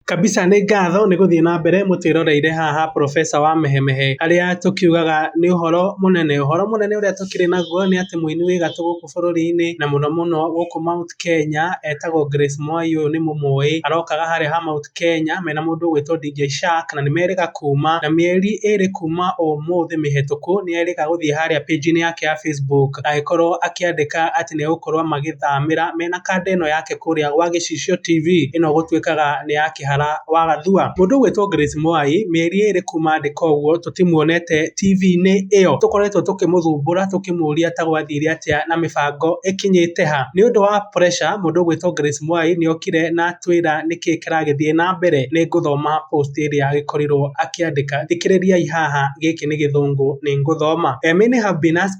Kabisa nĩ ngatho nĩ gũthiĩ na mbere mũtwĩroreire haha professor wa mehemehe harĩa tũkiugaga nĩ ũhoro mũnene. Ũhoro mũnene ũrĩa tũkĩrĩ naguo nĩ atĩ mũini wĩ gatũ gũkũ bũrũri-inĩ na mũno mũno gũkũ Mount Kenya etagwo Grace Mwai ũyũ nĩ mũmũĩ. Arokaga harĩa ha Mount Kenya mena mũndũ ũgwĩtwo DJ Shark na nĩ merĩga kuma na mĩeri ĩrĩ kuma ũmũthĩ mĩhĩtũku nĩ erĩga gũthiĩ harĩa page -inĩ yake ya Facebook. agĩkorwo akĩandĩka atĩ nĩ egũkorwo magĩthamĩra mena kanda ĩno yake kũrĩa gwa Gĩcicio TV, ĩno gũtuĩkaga nĩ ya Kĩhara wa Gathua. Mũndũ ũgwĩtwo Grace Mwai, mĩeri ĩrĩ kuma andĩka ũguo tũtimuonete TV-inĩ ĩyo. Tũkoretwo tũkĩmũthumbũra tũkĩmũria ta gwathire atĩa na mĩbango ĩkinyĩte ha. Nĩ ũndũ wa pressure, mũndũ ũgwĩtwo Grace Mwai nĩ okire na atwĩra nĩkĩ kĩragĩthiĩ na mbere. Nĩ ngũthoma post ĩrĩa agĩkorirwo akĩandĩka. Thikĩrĩriai haha gĩkĩ nĩ gĩthũngũ nĩ ngũthoma. Many have been asking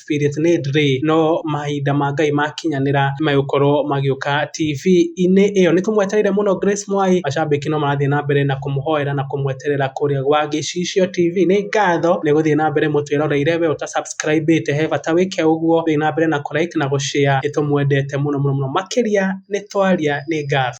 Spirit Need rĩ, no mahinda ma Ngai makinyanĩra nĩ megũkorwo magĩũka TV-inĩ ĩyo. Nĩ tũmwetereire mũno Grace Mwai, macambĩki no marathiĩ na mbere na kũmũhoera na kũmweterera kũrĩa gwa Gĩcicio TV. Nĩ ngatho nĩ gũthiĩ na mbere mũtwĩroreire, we ũta subscribe ĩte he bata wĩke ũguo, thiĩ na mbere na kũ like na gũ share, nĩ tũmwendete mũno mũno mũno makĩria nĩ twaria. Nĩ ngatho.